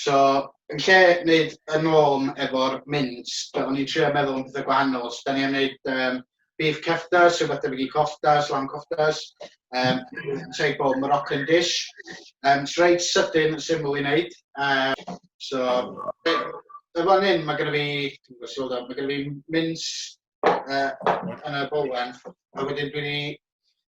So yn lle wneud y norm efo'r mints, o'n i'n trio meddwl am pethau gwahanol. So da ni am wneud um, beef keftas, rhywbeth debyg i koftas, lamb koftas, um, type o Moroccan dish. Um, so reit sydyn, syml i wneud. Um, so, y fan hyn, mae gen i fi, dwi'n gwybod sylwyd mae gen i fi mints uh, yn y bowen, a wedyn dwi'n ni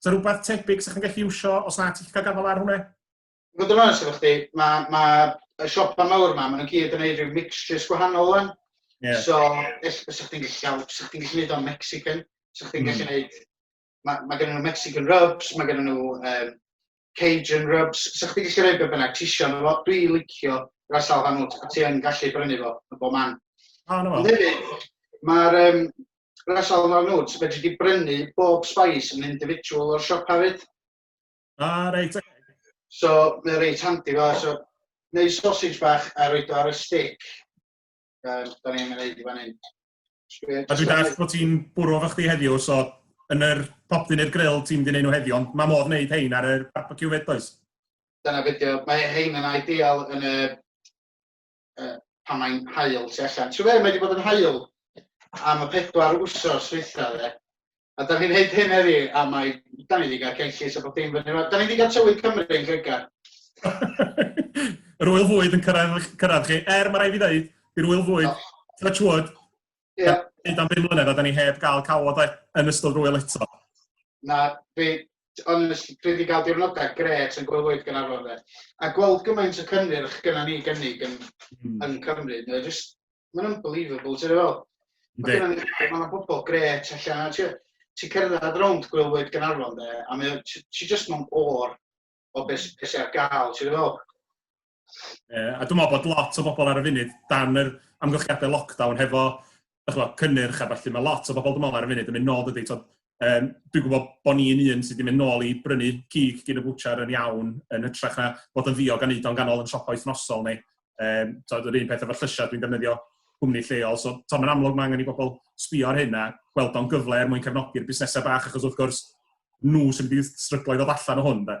Sa rhywbeth tebyg sa chi'n gallu iwsio os na ti'n gallu cael gafael ar hwnna? I fod yn onest efo chdi, mae ma y siopa mawr yma, maen nhw'n gyd yn gwneud rhyw mixtures gwahanol wan. Yeah. So, sa chdi'n gallu gael, sa chdi'n gallu gwneud o'n Mexican, sa chdi'n mm. gallu gwneud, mae ma gen nhw Mexican rubs, mae gen nhw um, Cajun rubs, so chdi gallu rhoi be bynnag ti isio yno fo, dwi licio ras al hanout, a ti yn gallu brynu fo yn bob man. Ah, no. Ond hefyd, mae'r um, ras al hanout, fe ti brynu bob spice yn individual o'r siop hefyd. Ah, reit, okay. So, mae'n reit handi fo. So, neu sausage bach a roed o ar y stick. Um, da ni'n mynd i fan hyn. A dwi'n dall bod ti'n bwrw fo chdi heddiw, so yn yr popdyn i'r grill ti'n mynd i wneud nhw heddiw, ond mae modd wneud hein ar yr barbecue fyd, does? Dyna fideo. Mae hein yn ideal yn y... Uh, pan mae'n hael tu allan. Ti'n fe, mae wedi bod yn hael am y pedwar wsos dwytha fe. A da ni'n neud hyn heddi, a mae... Da ni wedi cael cenllys a bod dim fyny yma. Da ni wedi cael tywydd Cymru yn Lloegr. Yr wyl fwyd yn cyrraedd, cyrraedd chi. Er, mae rai fi ddeud, i'r wyl fwyd, oh. touch wood, yeah. hyd am bum mlynedd a da ni heb gael cawod yn ystod yr wyl eto. Na, dwi, ond dwi wedi cael diwrnodau gret yn gwylwyr gan arfer fe. A gweld gymaint o cynnyrch gyda ni gynnig yn, mm. yn Cymru, mae jyst Mae'n unbelievable, ti'n fel. Mae gen i ma pobl gret allan. Ti, ti cerdded rownd gwylwyr Gynarfon de, a mae, ti, ti just mewn o'r o beth sy ar gael, ti'n fel. Yeah, a dwi'n meddwl bod lot o bobl ar y funud dan yr amgylchiadau lockdown hefo chynnyrch a falle mae lot o bobl dwi'n meddwl ar y funud yn mynd nôl dydy, Um, dwi'n gwybod bod ni'n un sydd wedi mynd nôl i brynu cig gyn y bwchar yn iawn, yn hytrach na bod yn ddiog a wneud o'n ganol yn siopa wythnosol ni. Um, so, yr un peth efo llysiau, dwi'n defnyddio cwmni lleol. So, to, mae'n amlwg mae angen i bobl sbio ar hyn a gweld o'n gyfle er mwyn cefnogi'r busnesau bach, achos wrth gwrs, nhw sy'n mynd i stryglo i ddod allan o hwn. Da.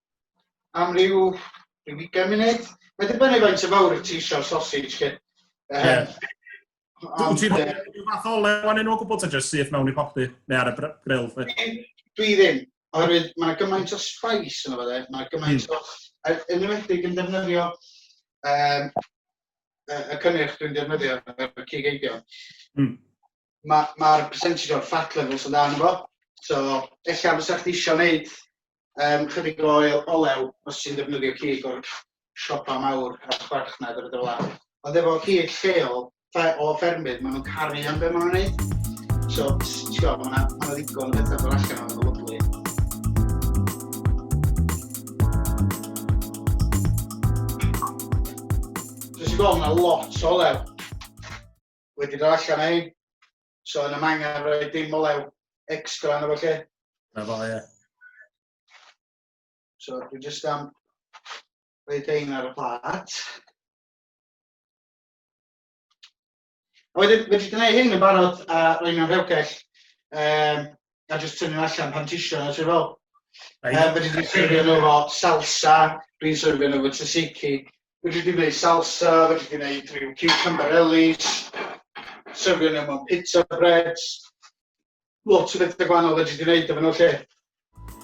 am ryw, ryw ugain munud. Mae dibynnu faint o fawr y ti eisiau sausage chi. Um, Wyt ti'n rhyw fath o lew anyn nhw o gwbl ta jyst syth mewn i popty neu ar y grill? Dwi ddim, oherwydd mae gymaint o spice yn fydde, mae gymaint hmm. o... Yn ymwedig yn defnyddio um, y cynnyrch dwi'n defnyddio y cig eidio. Mm. Mae'r ma percentage o'r fat levels yn dan efo, so ella fysa chdi eisiau gwneud um, chydig o oel, olew os ti'n defnyddio cig o'r siopa mawr a chwarchnad a bethau fel Ond efo cig lleol o ffermydd, maen nhw'n caru am beth maen nhw'n gwneud. So, ti'n gwybod, maen nhw'n ma ddigon o bethau fel allan o'n lyflu. So, ti'n gwybod, maen lot o olew. wedi dod allan o hyn. So yna mae angen rhoi dim olew extra yna fo lle. Na fo, ie. So dwi jyst am rhoi ein ar y plat. A wedyn, wedi gwneud hyn yn barod a rhoi mewn rhewgell, um, a jyst tynnu allan pan tisio a ti'n fel Yym fedri di serfio nhw efo salsa, dwi'n serfio nhw efo tzatziki. Fedri di wneud salsa, fedri di wneud rhyw cucumber ellis, serfio nhw mewn pizza breads, lot o bethau gwahanol fedri di wneud efo nhw 'lly.